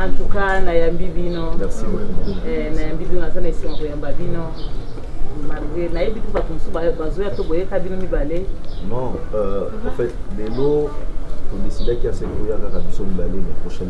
En tout cas, nayambi bino. Merci beaucoup. Eh, nayambi bino naza na esengo koyamba bino. Malgré nayebi te bato mosusu bazoya to boyeka bino mibale. Non, euh, en fait, lelo todecidaki ya se koya kaka biso mibale na prochaine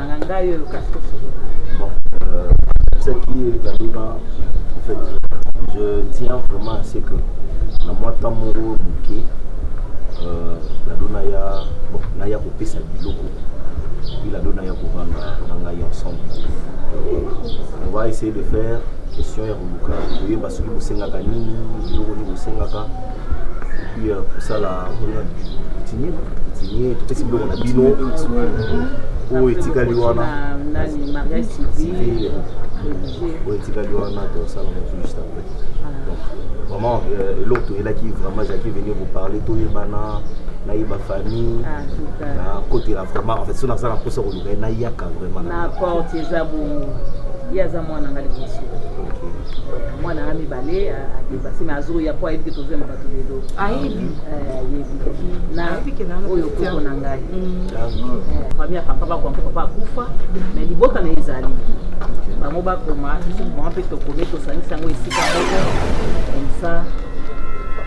je tiens vraiment à ce que na mwa temps moko moke euh, lado naya bon, naya kopesa biloko puis lado naya kovanda na ngai ensemble on va essayer de faire question ya koluka koyeba soki bosengaka nini biloko nini bosengaka oyo etikali wana oyo etikali wana tosala motu juste après donc vraiment euh, eloko toyelaki vraiment ezalaki venir vous parler toyebana nayeba famille nakotela ah, vraiment en fait so naza na mposa koluka ye nayaka vraiment mwana nga liboso mwana nga mibale adebasi me azoya mpo ayebi ke tozwema bato lelo ayebi na oyo koko na ngai fami ya papa bakwampo papa akufa me libota na ezali bango bakoma mama mpe tokomi tosangisi yango esika moko komsa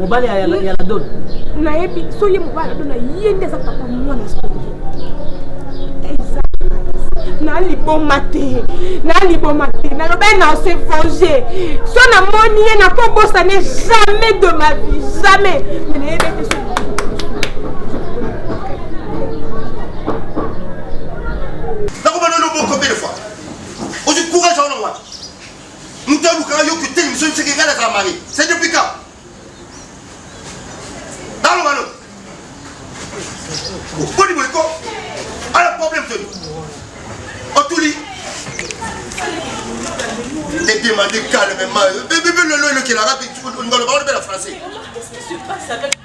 mobali ya ladon nayebi so ye mobali ladon na ye nde aza papa mwana songi eza na liboma te na liboma te naloba ye na se venger so namoni ye nakobosane jamais de ma vie jamais me nayebi ete so Moto alukaka yo kuteli miso miseke ngai nazala mari. C'est depuis quand? Balo balo. Boni boy ko. Ala problème toni. Otuli. T'es demandé calmement. Bébé lolo le kelaka tu ngolo ba le français.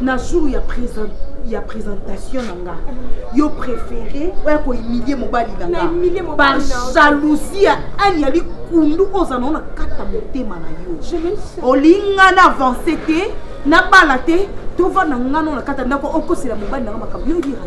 na jour ya présent ya présentation na nga yo préféré oya kohumilie mobali na nga par jalousie ya ani ya likundu oza nao na kata motema na yo olinga na avance te nabala te tovanda nga nao na kata ndako okosela mobali na nga makambo yo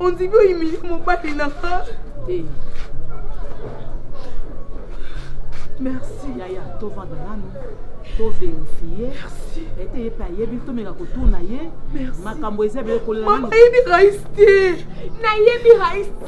ondimi oyimili mobali na nga eh. merci yaya tovanda nanu toverifie ete ye mpe ayebi tomeka kotuna ye makambo eza ebele kolelayebi rais te nayebi rais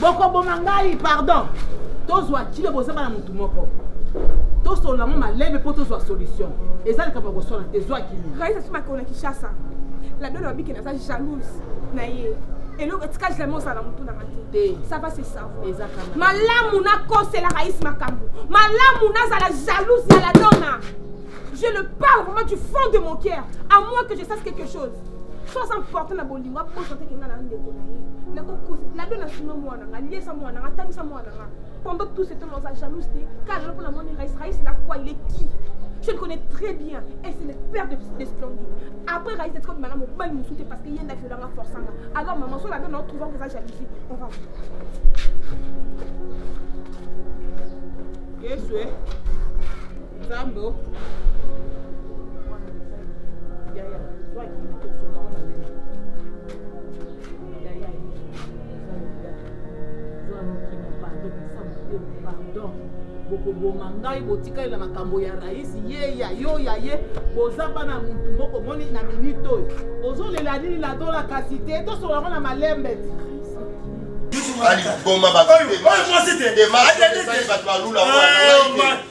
bokoboma ngai pardon tozwa kilo boza bana motu moko tosolola yango malebe mpo tozwa solution eza likambo ya koswana te zwa kilo raisa soki bakona kishasa ladolo babike naza jalouse na ye eloko etika jamais ozala motu nanga te ça va se savoir malamu nakosela raïs makambo malamu nazala jalouse ya ladona je le parle vraiment du fond de mon cœur à moins que je sache quelque chose soki aza porte na bolingo aposa te kenga na ndeko na ye nakokosa nabe na sima mwana nga liesa mwana nga tamisa mwana nga pendant tout ce temps oza jalouse te car lelo mpo namoni rais rais na quoi il est qui je le connais très bien et c'est le père de, de splendide après rais etikodi manga mobali mosusu te parce que ye nda violanga forçanga alors maman soki nabe nao trouvant que eza jalousie on va yesu e Zambo. bokoboma ngai botikali na makambo ya raisi ye ya yo ya ye boza bana motu moko moni na minute oyo ozolela nini na dola kasi te tosolola ngo na malembe ti aliboma bato bato balula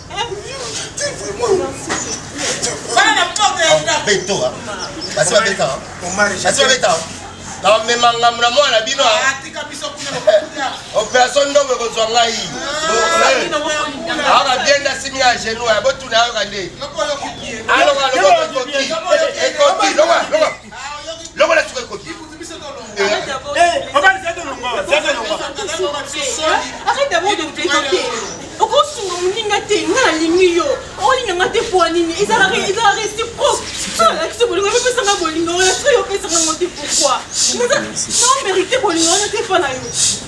namema ngambo na mwana na bino operation ndongo ekozwa ngai aka bien nasimi ya genou ya botuna yoka nde aloka lokokoki ekoki loka lokola suka ekoki okosunga moninga te nga nalingi yo olinga nga te po nini ezalaka réciproque alakisi bolingo mipesanga bolingo wana soki opesanga ngo te pourkoi nomérite bolingo wana te mpo na yo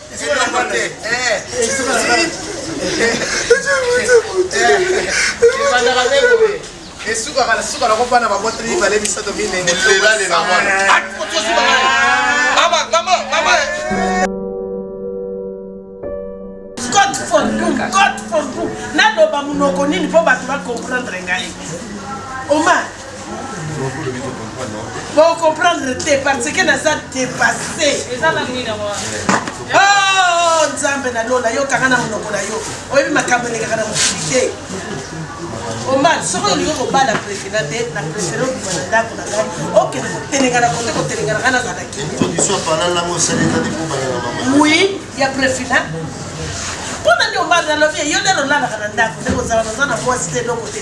esukaka na suka nako bana baboteli mibale misato minene naloba monoko nini mpo bato bacomprendre ngai oma Bon comprendre te parce que naza dépassé. Oh Nzambe na lola yo kanga na monoko na yo. Oyebi makambo elekaka na mokili te. Omar soki olingi kobala prefina te na prefere obima na ndako na ngai okende kotelengana kote kotelengana ngai nazala oui ya prefina mpo nani omar nalobi ye yo nde lolalaka na ndako nde kozala naza na mwasi te eloko te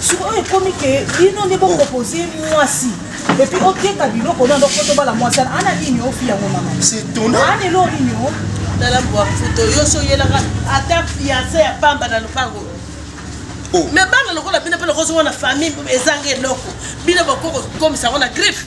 sikoyo ekomi ke bino nde bopropose mwasi epuis oteka biloko na ndoko tobala mwasi ana ana nini ofi yango mama ana elo nini o tala mbwa mfuto yo so oyelaka ata fianse ya pamba na lopango oh. me bana lokola bino mpe lokozonga na famille ezanga eloko bino bokokomisa yango na griffe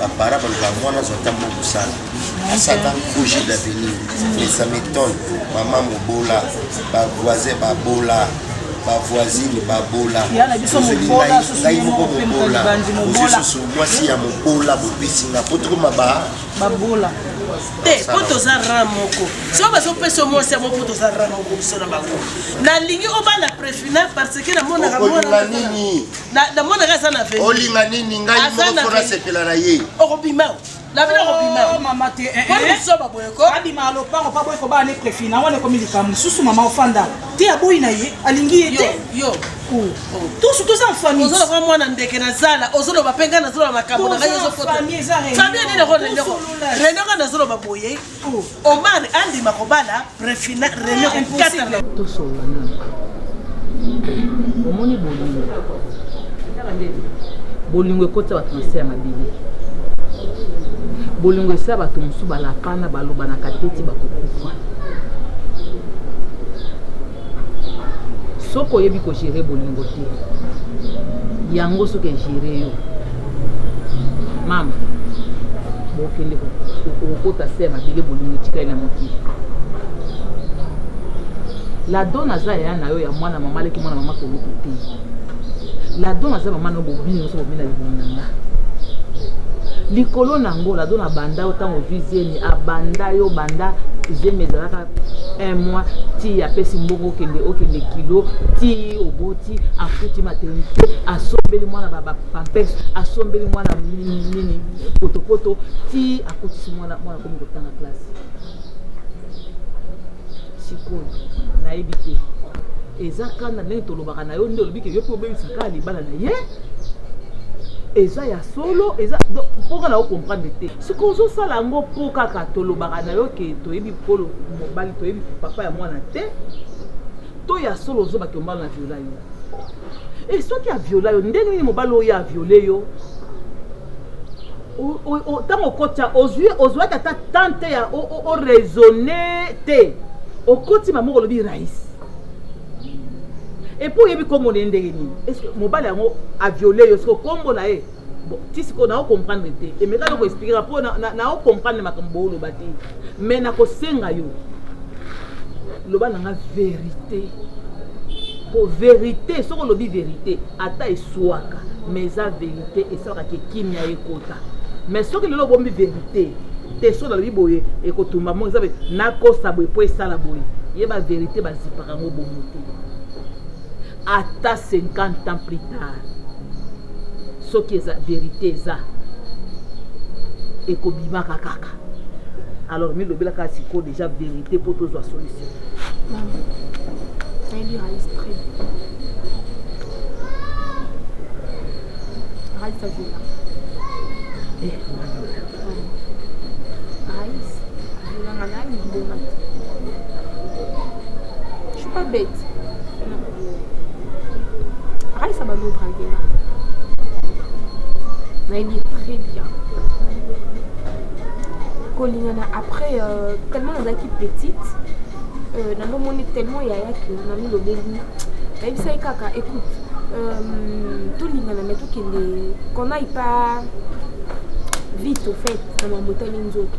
Ba parents balobaka mwana azwa ntango ya kosala asaka projet d'avenir mais ça m'étonne mama mobola ba voisin babola ba voisine babola Ya na biso Ozeli mobola, ngai- susu ngai ye moko moko mpe mobola libandi ozwi mobola. susu mwasi ya mobola bopesi nga po tokoma ba babola te mpo toza ran moko soki bazopesa yo mwasi yango mpo toza ran moko biso na bango nalingi obala prefina parce que namonaka okolinga mwana nini namonaka aza na veni olinga nini ngai moko nasepela na ye okobima labina okobima oh, mama te eh, eh. bisoba boyeko abima lopango pa boyeko bana ne prefi na wana ekomi likambo mosusu mama ofanda te aboyi na ye alingi ye te yo oh. tusu toza mfamille ozoloba mwana ndeke na zala ozoloba mpe ngai nazoloba makambo na ngai ezofamille nini rende ngai nazoloba boye Omar andima kobala prefina reno impossible tosolola nanu omoni bolingo bolingo ekotisa bato na se ya mabele bolingo esila bato mosusu balapana balobanaka te ti bakokufa soki oyebi kogere bolingo te yango soki egere yo mama bokende kokota se ya mabele bolingo etikali na mokili ladon aza yaya na yo ya mwana mama aleki mwana mama kolutu te ladon aza mama na yo bobini nyonso bobina libumu na nga likolo na yango ladon abanda yo ntango ozwi zemi abanda yo banda zemi ezalaka un mois ti apesi mbongo okende okende kilo ti oboti mwasi afuti maternite asombeli mwana bapampes asombeli mwana nini potopoto ti akotisi mwana mwana akomi kotanga classe sikoyo nayebi te eza kanda ndenge tolobaka na yo nde olobi ke yo mpe obebisa kaka libala na ye eza ya solo eza mpoka na yo comprendre te soki ozosala yango mpo kaka tolobaka na yo ke toyebi kolo mobali toyebi papa ya mwana te to ya solo ozo bato mbala na viola yo e eh, soki aviola yo ndenge nini mobali oyo aviole yo ntango okotya ozwi ozwaki ata temps te ya oraisonne te okoti mamoko olobi rais epuis oyebi nkombo na ye ndenge nini mobali yango aviole yo siko nkombo na ye Bon, ti sikoyo nao comprendre te emeka noko expliquera mpo nao comprendre makambo booloba te mais nakosenga yo loba na nga verité mpo verité soki olobi verité ata eswaka mais eza verité esalaka ke kimia ekota mais soki lelo obombi verité te soki nalobi boye ekotumba mo eza nakosa boye mpo esala boye ye baverité bazipaka yango bongo te ata 50 ans plus tard soki eza verite eza ekobimaka kaka alors milobela kaka sikoyo deja verite mpo tozwa solution nayebi rais très rais azela eh, rais azelanga naye libomaki je suis pas bête akalisa balo drague nga nayebi ye très bien kolingana après euh, tellement nazalaki petite euh, nanomoni tellement yaya ke namilobeli nayebisaki kaka écoute euh, tolingana me tokende qu'on aille pas vite au fait na mambo etali nzoto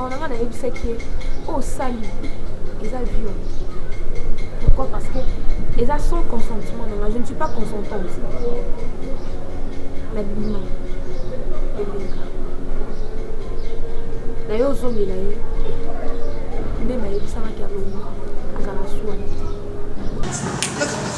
na nga nayebisaki ye oyo oh, sali eza viol pourquoi parce que eza sans consentement na nga je ne suis pas consentante na bima eleka na ye ozongela ye nde nayebisamaki alongo azala swani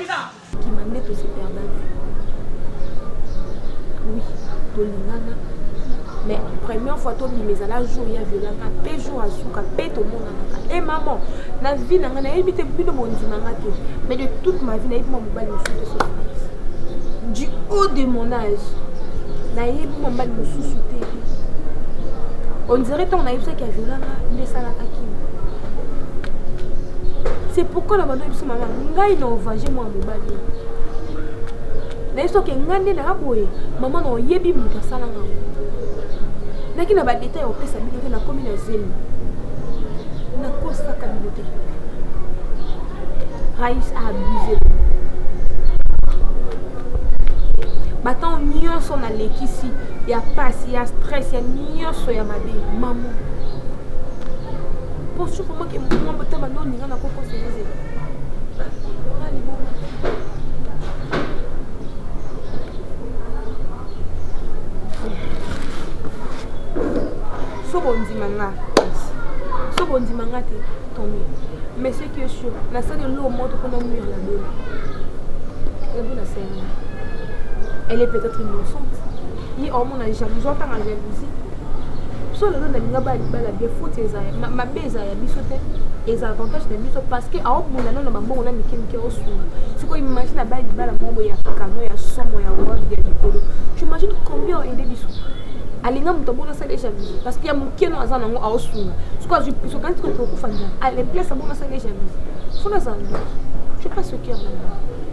Kima nde to se perda vue. Oui, to lingana. Mais première fois to bima ezala jour ya violanga pe jour asuka pe to monana ka. Eh maman, na vie na nga na yebi te bino bondima nga te. Mais de toute ma vie na yebi mwa mobali mosusu te soki du haut de mon âge na yebi mwa mobali mosusu te. On dirait ntango nayebisaki ya violanga nde esalaka kima. C'est pourquoi na bando biso mama ngai na ovanje mwana mobali naye soki ngai nde naya boye mama na oyebi moto asala ngai naki na badeta ya kopesa bino te nakomi na zemi nakosaka bino te rais a abuse batango nyonso nalekisi ya pasi ya stress ya nyonso ya mabe mama mpo soki omaki mwa botaba nde oninga nakokosa ezela soki ondima nga soki ondima nga te tomi mais ce qui est sûr nasali eloo moto mpona mur na bino ebu nasenga elle est peut-être innocente ye omona jalousie otanga jalousie biso lelo nalinga baya libala bien faute eza mabe eza ya biso te eza avantage na biso parce que aobunda nano bambongo na mike mike osuna sikoyo imagine abaya libala moko ya kano ya somo ya world ya likolo tu imagine combien oaide biso alinga moto abona asala jalousie parce que ya moke no aza nango aosunga sikoyo azwi biso kanti kokokufa njala aleplesa abona asala jalousie fona azala je pas ce cœur na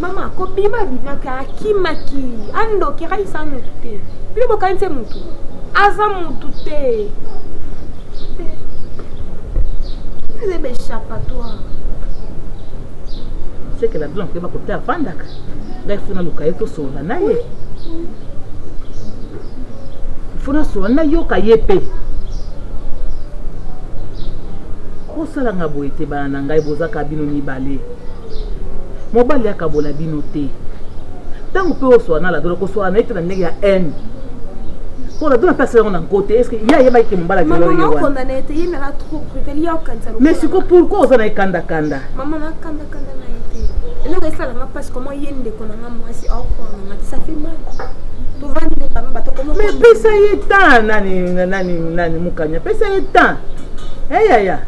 mama kobima abimaka akimaki andoki akaisa motu te bino bokanisi ye motu aza motu te eza ebe échappatoire seke na bino akeba kote afandaka ngai funa luka ye tosolola na ye funa solola nayoka ye mpe kosalanga boye te bana na ngai boza ka bino mibale mobali akabola bino te ntango mpe oswa na ladona koswana na ye te na ndenge ya haine mpo ladona mpe asala yango na nko te eske ye ayebaki ke mobala kelelo ye wana mais siko pourkoi oza na ye kandakanda Parce que moi, yende konanga moi si au konanga ça fait mal. Tovandi ne kama bato komo. Mais pesa ye temps nani nani nani mukanya pesa ye temps. Eh ya ya.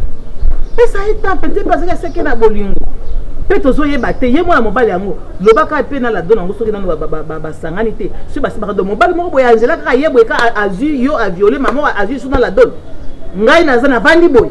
Pesa ye temps peut-être parce que c'est que na bolingo. mpe tozoyeba te ye mwana mobali yango lobaka mpe na lado nango soki nano basangani te soki basibaka do mobali moko boye angela kaka ye boye ka azwi yo aviole mama azwi so na ladone ngai naza navandi boye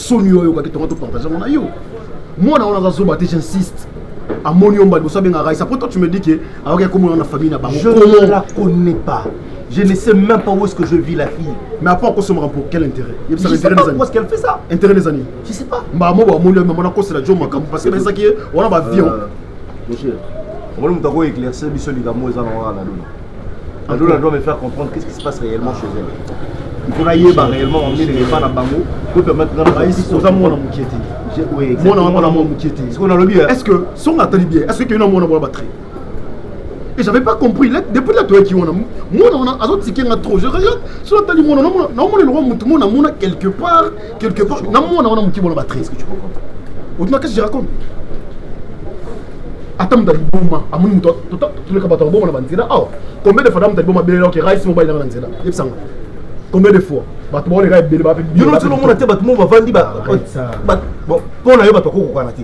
soni yo oyokaki tonga to partage yango na yo mwana wana aza zoba te j'insiste amoni yo mbali bosabe nga raisa po toi tu me dis que ayoki akomona na famille na bango je ne la connais pas je ne sais même pas où est-ce que je vis la fille mais après akosomaka pour quel intérêt je sais pas pourquoi est-ce qu'elle fait ça intérêt des années je sais pas mbaa moko amoni yo mama nakosela jo makambo parce que bayesaki ye wana bavion euh, monsieur omoni moto akoeclaircir biso likambo eza na wana na luna Alola doit me faire comprendre qu'est-ce qui se passe réellement chez elle. Il faut ayeba réellement en nini epa na bango pour permettre na baisi oza mwana mokie te. Mwana wango na mwa mokie te. Sikoyo nalobi est-ce que songa atali bien est-ce que yo na mwana mwana batri et j'avais pas compris là, depuis là toyaki wana mwana wana azotike nga trop je regarde soki atali mwana naomona eloko motu mwana amona quelque part Quelque part, na mwana wana moke bona ba très ce que tu comprends. Au-delà qu'est-ce que je raconte ata moto aliboma amoni moto toleka bato akoboma na banzela awa combien de fois ata moto aliboma belela oke rais mobali nanga na nzela yebisanga combien de fois bato baoleka ebele bape yo noti olomona te bato mo bavandi mpo na yo bato akokokana te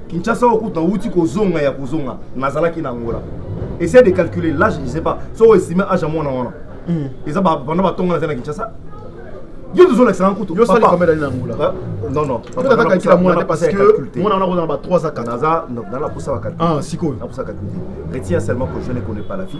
Kinshasa oyo kutu nauti kozonga ya kozonga nazalaki na Angola. Essaye de calculer l'âge, je sais pas. So o estime âge ya mwana wana. Mm. Eza ba banda batonga na Kinshasa. Yo tozolakisa na kutu. Yo sali combien d'années na Angola? Hein? Non non. Papa tata calcule mwana te parce que mwana wana kozana ba 3 à 4. Naza dans la posa ba calcule. Ah sikoyo. Na posa calcule. Retient seulement que je ne connais pas la fille.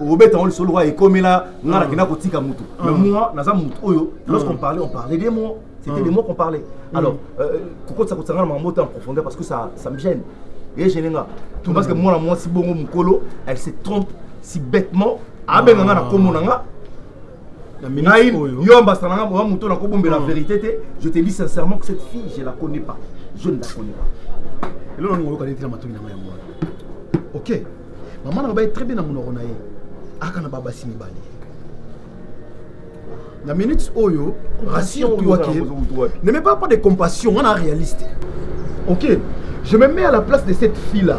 obeta yango lisolo lokola ekomela nga nakenda ah. kotika motu mais ah. moi naza motu oyo ah. lorsqu'on parlait on parlait des mots c'était des mots qu'on parlait mm. alors euh, kokotisa kotisa nga na makambo te en profondeur parce que ça, ça me gêne eye gêne nga tout parce que mwana mwasi bongo mokolo elle se trompe si bêtement abenga nga na komo na nga yo ambassadeur nanga oya moto nakobombela verité te je te dis sincèrement que cette fille je la connais pas je ne la connais pas eloko ningo oyokani te na matoyi nanga yango wana ok mama na baye très bien na monoko na ye aka na babasi mibale na minute oyo rassure toi que ne mets pas pas de compassion on a réaliste ok je me mets à la place de cette fille là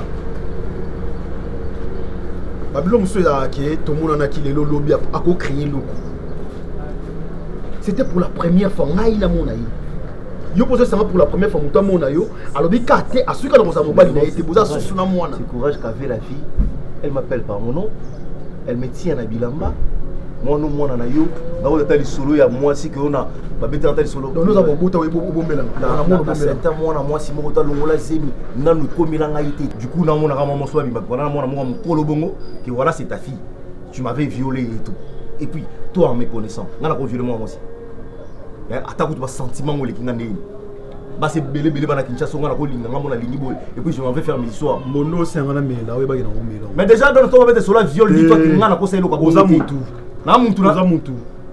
babilo mosusu ezalaka ke tomonanaki lelo lobi akocreye eloko c'était pour la première fois ngai namona ye yo mpo ozosanga pour la première fois moto amona yo alobi ka te asuki na kozala mobali na ye te boza susu na mwana courage cave la fille elle m'appelle par mon nom elle me tient na bilamba mwana mwana na yo nakoki ata lisolo ya mwasi ke ona babetaka ata lisolo oza kobota obomelana mwana mwasi moko talongola zemi nanu ekomela ngai te kuna amonaka mwa moso babimba wana na mwana moko mokolo bongo ke voilà c'est ta fille tu m'avais violé et tout et puis toi en me connaissant nga nako violé mwana mwasi eh, ata kutu basentiment ngo oleki nga ndenge basi ebele ebele bana kinshasa nga nakolinga nga mona lingi boye et puis je m'en vais faire mes histoires mondo osenga na mela oyebaki nango mela mais déjà dans le temps babete sola viol dit toi ke nga nakosa eloko oza mutu na mutu na mutu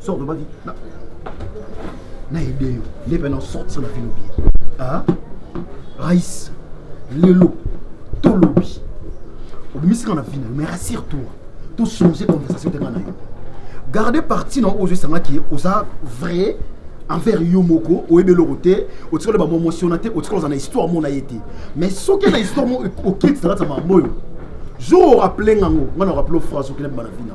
Sors de ma vie. Na, na aidé yo. Les maintenant sortir la philobi. Hein? Raïs, Lelo, Tolobi. Obimisi na vie, mais rassure-toi. Tout changer conversation de na yo. Gardez partie non aux yeux qui osa vrai envers yo moko oyebi eloko te otikoli bamomosiona te otikoli oza na histoire mona ye te mais soki na histoire mo okiti zalata mambo oyo jour oraple ngango ngai na oraple phrase okina bana vina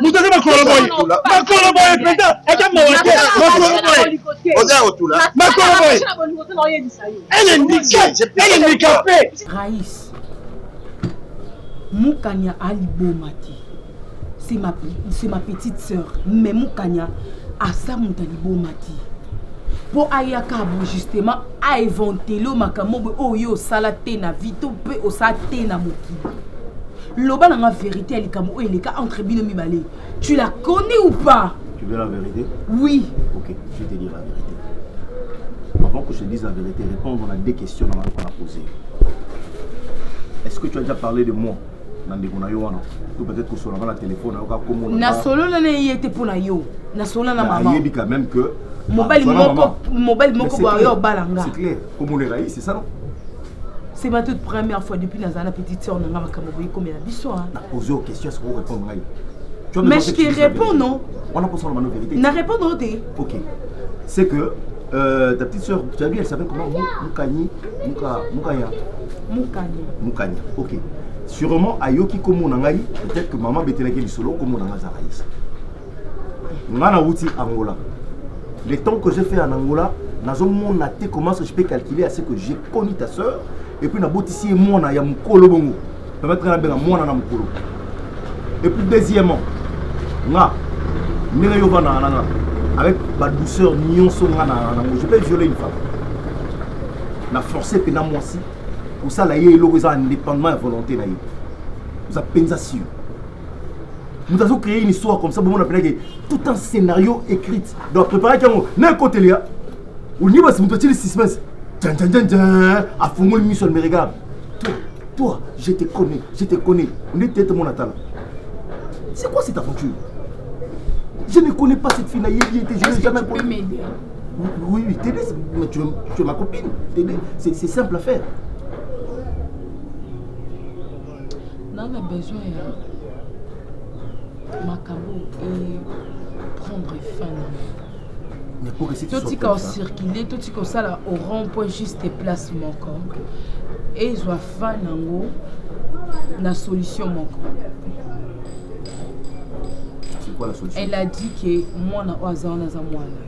moto aza makolo boye makolo boye mpenza aza mawa te makolo boye oza ya kotula makolo boye elendikape rais mukanya aliboma te c'est ma, ma petite sœur mais mukanya asa moto aliboma te mpo ayaka bo justement aeventele makambo boye oyo ye osala te na vie to mpe osala te na mokili Loba na nga verite ya likambo oyo eleka entre bino mibale. Tu la connais ou pas? Tu veux la vérité? Oui. OK, je te dis la vérité. Avant que je te dise la vérité, répondre à deux questions dans la poser. Est-ce que tu as déjà parlé de moi na ndeko na yo wana to peut-être kosolanga na telefone ayoka komona nasolola na ye te mpo na yo nasolola na mama ayebi quand même que mobali moko mobali moko boyo obala nga c'est clair komona erai c'est ça non C'est ma toute première fois depuis nazala na petite sœur na nga makambo boye komela biso hein. Na poser aux questions ce qu'on répond ngai. Mais je te réponds non. On a posé la vérité. Na répondre au thé. OK. C'est que euh, ta petite sœur, tu as vu, elle s'appelle comment Moukani Mouka Moukaya. Moukani. Moukani. OK. Sûrement ayoki komo na ngai, peut-être que maman betelaki lisolo komo na ngai za raïs. Nga na wuti Angola. Le temps que j'ai fait en Angola, nazo mona te comment je peux calculer à ce que j'ai connu ta sœur et puis na botisi mwana ya mukolo bongo. Permettre na benga mwana na mukolo. Et puis deuxièmement, nga ndenge yo bana nanga avec ba douceur nyonso nga na nango je peux violer une femme. Na forcer pena mwasi kosala ye eloko eza indépendamment ya volonté na ye. Oza penza sûr. moto azo créer une histoire comme ça bomona mpena ke tout un scénario écrite donc préparaki yango na ekoteli ya olingi basi moto atili suspense janjanjanjan afungoli miso ya meregarde toi toi je te connais je te connais nde tete mona tala c'est quoi cette aventure je ne connais pas cette fille nayebi ete je n'ai jamais connu oui oui tede mais tu es, tu es ma copine tede c'est simple à faire Dans la besoin ya makambo et prendre fin totika ocircule totika osala au rond point juste place moko ezwa fin nango na solution moko elle a dit que mwana oyo aza wana aza mwana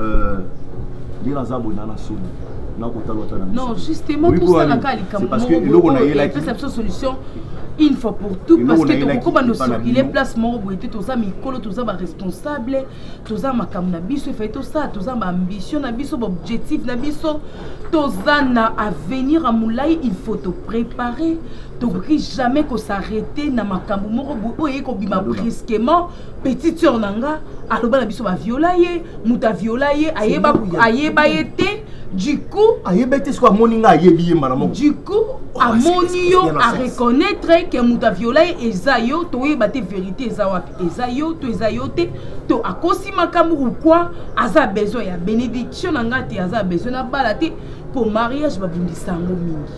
Euh, nde naza boye na na soni nakotala ata non justement tosalaka likambo epesa biso solution une fois pour tout parce que tokokoba no circule place moko boye te toza mikolo toza baresponsable toza makambo na biso efai tosala toza baambition na biso baobjectif na biso toza na avenir ya molai il faut toprépare tokoki jamais kosarrete na makambo moko boye oyo eye kobima brusquement petite sœur na nga aloba na biso baviola ye moto aviola ye ayeba, ayeba ye te du coup ayebi te soki amoni nga ayebi ye mbala moko du coup oh, amoni yo areconnaitre ke moto aviola ye eza yo toyeba te verité eza wapi eza yo to eza yo te to akosi makambo ou quoi aza besoin ya bénédiction na nga te aza besoin na bala te mpo mariage babundisa yango mingi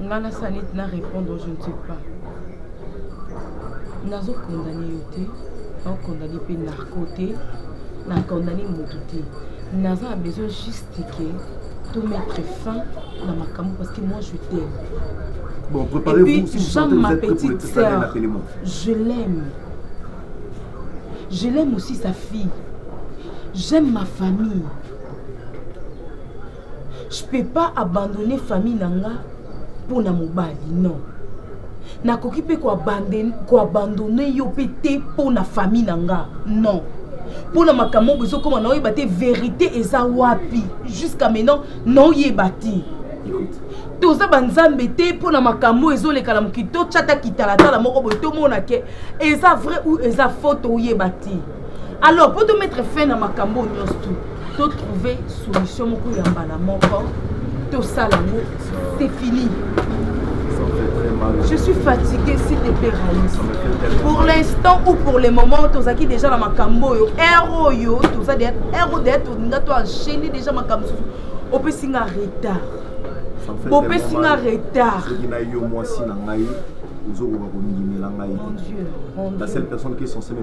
nga na sanit na repondre je ne sais pas nazo condamne yo te nao condamne mpe narco te na condamne motu te naza na besoin juste ke to mettre fin na makambo parce que moi je t'aime bon préparez-vous si vous sentez ma petite sœur je l'aime je l'aime aussi sa fille j'aime ma famille Je peux pas abandonner famille na nga mpo na mobali non. Nakoki mpe koabandonne yo mpe te mpo na famille na nga non. Mpo na makambo oyo ezokoma naoyeba te verite eza wapi jusqu'à maintenant naoyeba te. toza banzambe te mpo na makambo oyo ezoleka na mokili totyata kitalatala moko boye tomona ke eza vrai ou eza faux toyeba te alors mpo to mettre fin na makambo oyo nyonso tu to trouver solution moko ya mbala moko tosala yango c'est fini je suis fatigué s'il te plaît raïs pour l'instant ou pour le moment tozalaki déjà na makambo oyo heure oyo toza heure oyo deya tolinga to enchaîne déjà makambo mosusu opesi nga retard bopesi nga retard soki na yo mwasi na ngai ozokoka kondimela ngai la seule personne qui est censée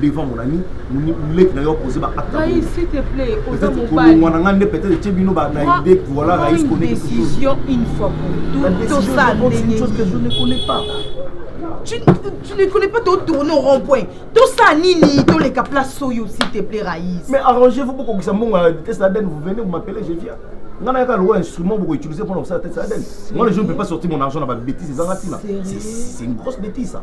devant mon ami leki na yo apoze baactekolongwa na ngai nde peut-être etie bino na idée voilà raïs connaisdécision une fois pour tout tosala ndenge chose que je ne connais pas tu, tu ne connais pas totourne au rond-point tosala nini toleka place oyo s'il te plaît raïs mais arrangez vous bokokisa mbongo ya vitesse laden vous venez vous m'appelez je viens nga nayaka lokola instrument bokoutiliser mpona kosala tete laden moi le jour ne peux pas sortir mon argent na babétise ezanga ntina c'est une grosse bétise ça